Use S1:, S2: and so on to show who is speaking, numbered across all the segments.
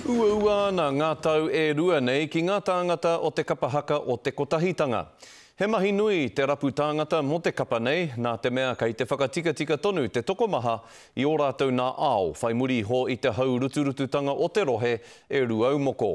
S1: Uaua ana ngā tau e rua nei ki ngā tāngata o te kapa haka o Te Kotahitanga. He mahi nui te rapu tāngata mō te kapa nei, nā te mea kei te whakatikatika tonu te tokomaha i ō rātou nā ao, whai muri iho i te haurutututanga o te rohe e Rūaumoko.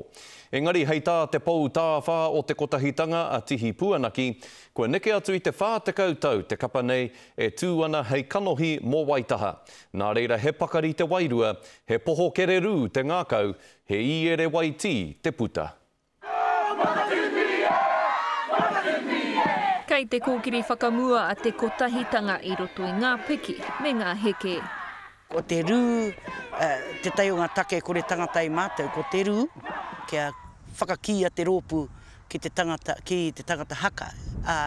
S1: Engari hei tā te pou tāwhā o Te Kotahitanga a Tihi Puanaki, kua neke atu i te 40 tau te kapa nei e tū ana hei kanohi mō Waitaha, nā reira he pakari te wairua He poho kererū te ngākau, he īere waitī te puta.
S2: Kei te kōkiri whakamua a Te Kotahitanga i roto i ngā piki me ngā heke. Ko te
S3: rū tētahi o ngā take kore tangata e mātou, ko te rū kia whakakīia te rōpū. ki te tangata, ki te tangata haka, ā,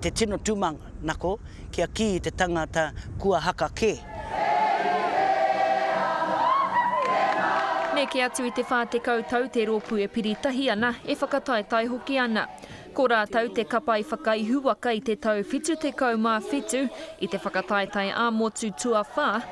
S3: te tino tūmanako kia kī te tangata kua haka kē.
S2: Neke atu i te 40 tau te rōpū e piri tahi ana, e whakataetae hoki ana. Ko rātou te kapa i whakaihu waka i te tau 77 i te whakataetae ā-motu tuawhā,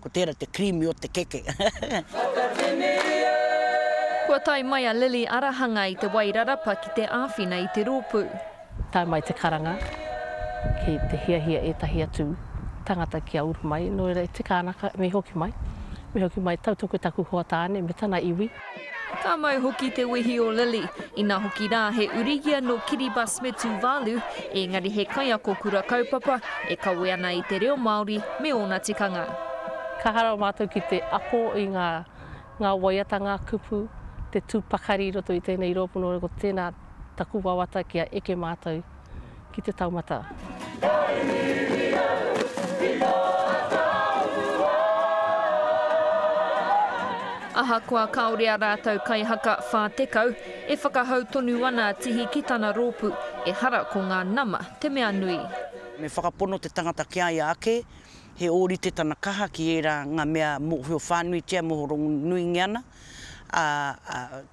S3: Ko tērā te creamy o te keke.
S2: Kua tae mai a Lily Arahanga i Te Wairarapa ki te āwhina i te rōpū. Tae mai te
S4: karanga ki te hiahia ētahi atu tangata kia uru mai, nō reira e tika ana ka, me hoki mai, me hoki mai, tautoko i taku hoa tāne me tana iwi. Ka mau
S2: hoki te wehi o Lily, ina hoki rā he uri ia nō Kiribati Metuvalu, ēngari he kaiako kura kaupapa e kawe ana i te reo Māori me ōna tikanga. Ka hānau
S4: mātou ki te ako i ngā ngā waiata, ngā kupu, te tū pakari i roto i tēnei rōpū nō reira ko tēnā taku wawata kia eke mātou ki te taumata. Ahakoa kāore a rātou kaihaka 40, e whakahau tonu ana a Tihi ki tana rōpū, ehara ko ngā nama te mea nui. Me whakapono
S3: te tangata ki a ia ake, he ōrite tana kaha ki ērā ngā mea mōhio whānuitia, mōhio rongonuingia ana, ā,